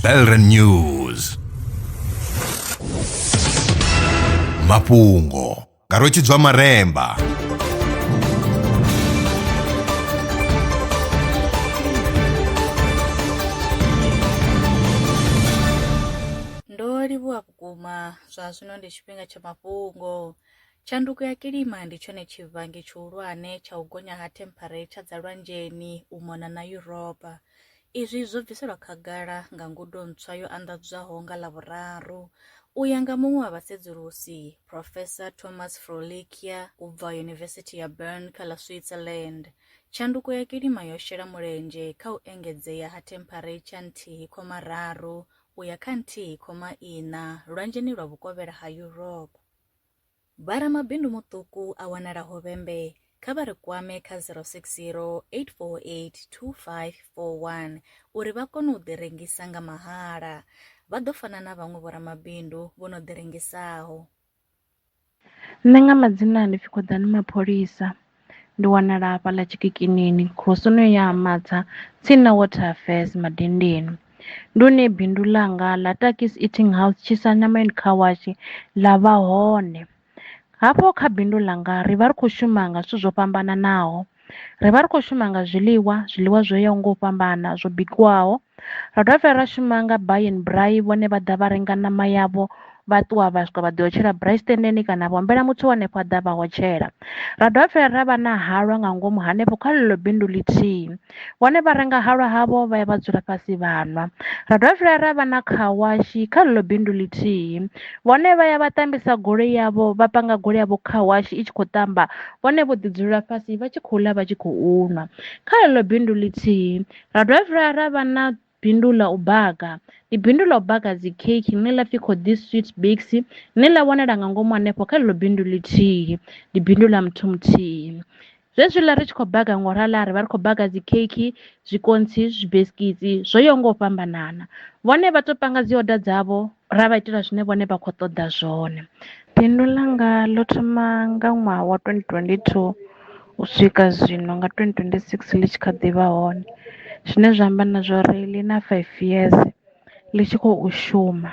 Belren News mafhungo nga rwetshidzwa maremba ndo livhuwa vhukuma zwa zwino ndi tshifhinga tsha mafhungo Tshanduko ya kilima ndi tshone tshivhangi tshihulwane tsha u gonya ha thempharetsha dza lwanzheni u mona na Yuropa. Izwi zwo bviselwa khagala nga ngudo ntswa yo anḓadzwaho nga Ḽavhuraru. U ya nga muṅwe wa vhasedzulusi, Profesa Thomas Froelickia u bva Yunivesithi ya Bern kha ḽa Switzerland, tshanduko ya kilima yo shela mulenzhe kha u engedzea ha thempharetsha nthihi khoma raru u ya kha nthihi khoma iṋa lwanzheni lwa vhukovhela ha Yuropa. Vharamabindu muṱuku a wanala Hovhembe kha vha ri kwame kha 060 848 2541 uri vha kone u ḓirengisa nga mahala. Vha ḓo fana na vhaṅwe vhoramabindu vho no ḓirengisaho. Nṋe nga madzina ndi pfi Khoḓani Mapholisa. Ndi wanala hafhaḽa Tshikikinini, khosini ya Ha Matsa, tsini na Water Affairs, Madindini. Ndi hune bindu ḽanga ḽa Takkies Eating House, Tshisannyama and Car Wash ḽa vha hone. Hafho kha bindu ḽanga ri vha ri khou shuma nga zwithu zwo fhambananaho, ri vha ri khou shuma nga zwiḽiwa, zwiḽiwa zwo yaho nga u fhambana zwo bikiwaho Ra dovha futhi ra shuma nga buy and braai vhone vha ḓa vha renga ṋama yavho vha ṱuwa vha swika vha ḓo tshela braai sitendeni kana vha humbela muthu wa henefho a ḓa vha hotshela ra dovha futhi ra vha na halwa nga ngomu hanefho kha ḽeḽo bindu ḽithihi vhone vha renga halwa havho vha ya vha dzula fhasi vha nwa ra dovha futhi ra vha na khawashi kha ḽeḽo bindu ḽithihi vhone vha ya vha tambisa goloi yavho vha panga goloi yavho khawashi i tshi khou tamba vhone vho ḓi dzula fhasi vha tshi khou ḽa vha tshi khou nwa kha ḽeḽo bindu ḽithihi Ra dovha futhi ra ra vha na bindu ḽa u baka ndi bindu ḽa u baka dzi cake ḽine ḽa pfhi Khoḓi Sweet Bakes ḽine ḽa wanala nga ngomu hanefho kha ḽeḽo bindu ḽithihi ndi bindu ḽa muthu muthihi zwezwiḽa ri tshi khou baka ngo rala ri vha ri khou baka dzi cake zwikontsi zwibesikitsi zwo yaho nga u fhambanana vhone vha to panga dzi oda dzavho ra vha itela zwine vhone vha khou ṱoḓa zwone. Bindu ḽanga ḽo thoma nga ṅwaha wa twendi twendi thuu u swika zwino nga twendi twendi sikisi ḽi tshi kha ḓi vha hone zwine zwa amba na zwa uri ḽi na faifi yeze ḽi tshi khou shuma.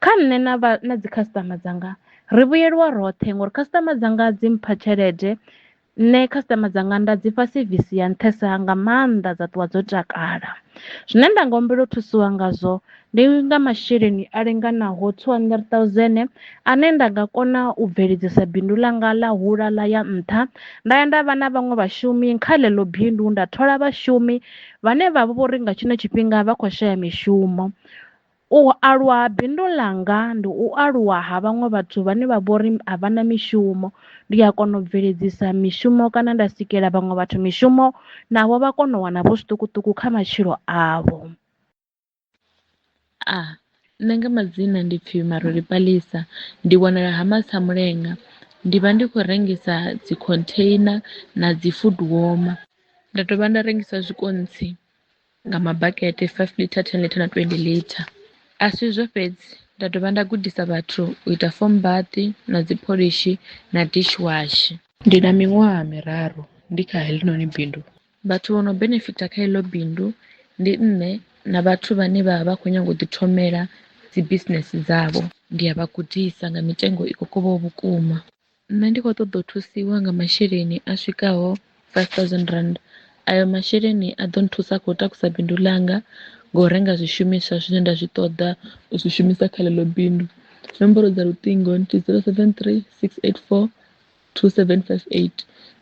Kha nṋe na vha na dzi khasiṱama dzanga ri vhuyelwa roṱhe ngori khasiṱama dzanga dzi mpha tshelede Nṋe customer dzanga nda dzi fha sevisi ya nṱhesa nga maanḓa dza ṱuwa dzo takala, zwine nda nga humbela u thusiwa ngazwo ndi nga masheleni a linganaho two hundred thousand ane nda nga kona u bveledzisa bindu ḽanga ḽa hula ḽa ya nṱha nda ya nda vha na vhaṅwe vhashumi kha ḽeḽo bindu nda thola vhashumi vhane vha vha vho ri nga tshino tshifhinga vha kho shaya mishumo. U aluwa ha bindu ḽanga ndi u aluwa ha vhaṅwe vhathu vhane vha vhori a vha na mishumo ndi a kona u bveledzisa mishumo kana nda sikela vhaṅwe vhathu mishumo navho vha kona u wana vho zwiṱukuṱuku kha matshilo avho. A, Nṋe nga madzina ndi pfhi Maruli Palesa, ndi wanala Ha Matsamulenga, ndi vha ndi khou rengisa dzi container na dzi food warmer, nda dovha nda rengisa zwikontsi nga mabakete 5 litre 10 litre na 20 litre a si izwo fhedzi nda dovha nda gudisa vhathu u ita foam bath na dzi pholishi na dish wash ndi na miṅwaha miraru ndi kha heḽinoni bindu vhathu vho no benefita kha iḽo bindu ndi nṋe na vhathu vhane vha vha khou nyanga u ḓi thomela dzi business dzavho ndi a vha gudisa nga mitengo i kokovhaho vhukuma Nṋe ndi khou ṱoḓa u thusiwa nga masheleni a swikaho five thousand rand, a yo masheleni a ḓo nthusa kha u takusa bindu ḽanga nga u renga zwishumiswa zwine nda zwi ṱoḓa u zwi shumisa kha ḽeḽo bindu. Nomboro dza luṱingo ndi zero seven three six eight four two seven five eight,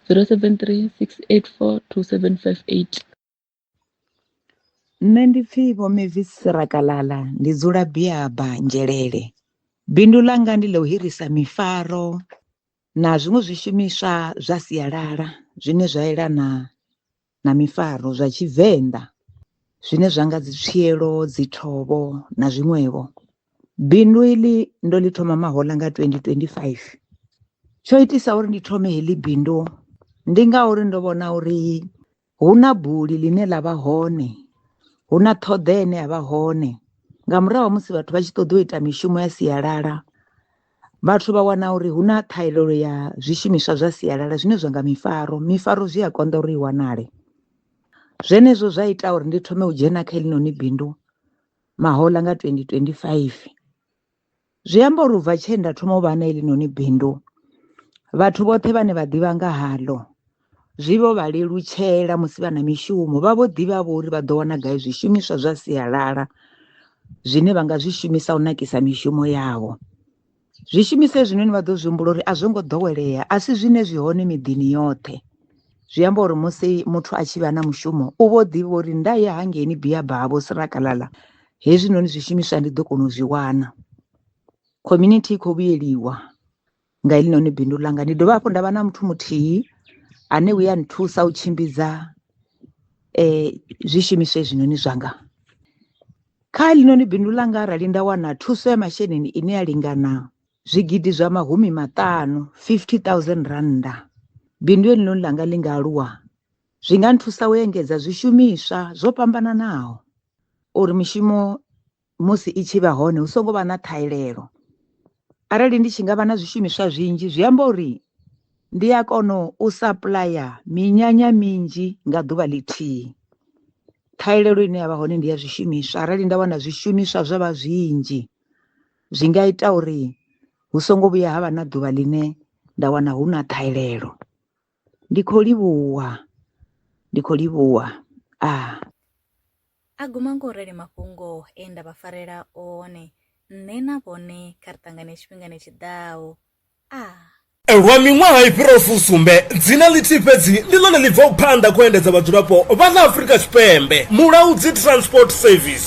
zero seven three six eight four two seven five eight. Nṋe ndi pfi vho Mavis Sirakalala ndi dzula Biaba Nzhelele, bindu ḽanga ndi ḽa u hirisa mifaro na zwiṅwe zwishumiswa zwa sialala zwine zwa yelana na mifaro zwa tshivenḓa zwine zwa nga dzi tswielo, dzi thovho na zwiṅwevho. Bindu iḽi ndo ḽi thoma mahoḽa nga twendi twendi faifi, tsho itisa uri ndi thome heḽi bindu ndi ngauri ndo vhona uri hu na buli ḽine ḽa vha hone hu na ṱhoḓea ine ya vha hone nga murahu ha musi vhathu vha tshi ṱoḓa u ita mishumo ya sialala vhathu vha wana uri hu na ṱhahelelo ya zwishumiswa zwa sialala zwine zwa nga mifaro mifaro zwi a konḓa uri i wanale zwenezwo zwa ita uri ndi thome u dzhena kha heḽinoni bindu mahoḽa nga 2025. Zwi amba uri ubva tshe nda thoma u vha na heḽi noni bindu vhathu vhoṱhe vhane vha ḓivha nga haḽo zwi vho vha lelutshela musi vha na mishumo vha vho ḓivha vho uri vha ḓo wana gai zwishumiswa zwa sialala zwine vha nga zwi shumisa u nakisa mishumo yavho. Zwishumiswa hezwinoni vha ḓo zwi humbula uri a zwo ngo ḓowelea a si zwine zwi hone miḓini yoṱhe zwi amba uri musi muthu a tshi vha na mushumo u vho ḓivha uri nda ya hangeini biyabaa vho sirakalala hezwinoni zwishumiswa ndi ḓo kona u zwi wana community i khou vhuyeliwa nga helinoni bindu ḽanga ndi dovha hafhu nda vha na muthu muthihi ane u ya nthusa u tshimbidza um zwishumiswa hezwinoni zwanga kha helinoni bindu ḽanga arali nda wana thuso ya masheleni ine ya lingana zwigidi zwa mahumi maṱanu 50 000 rannda bindu helinoni ḽanga ḽi nga aluwa zwi nga nthusa u engedza zwishumiswa zwo fhambananaho uri mishumo musi i tshi vha hone hu songo vha na ṱhahelelo arali ndi tshi nga vha na zwishumiswa zwinzhi zwi amba uri ndi a kona u sapuḽaya minyanya minzhi nga ḓuvha ḽithihi ṱhahelelo ine ya vha hone ndi ya zwishumiswa arali nda wana zwishumiswa zwa vha zwinzhi zwi nga ita uri hu songo vhuya ha vha na ḓuvha ḽine nda wana hu na ṱhahelelo. Ndi khou livhuwa, ndi khou livhuwa. Ah. A guma nga u rali mafhungo e nda vha farela one, nṋe na vhone kha ri ṱangane tshifhingani tshi ḓaho. Ah. Lwa miṅwaha i fhiraho fusumbe, dzina ḽithihi fhedzi ndi ḽone ḽi bvaho phanḓa kha u endedza vhadzulapo vha ḽa Afrika Tshipembe, Mulaudzi Transport Service.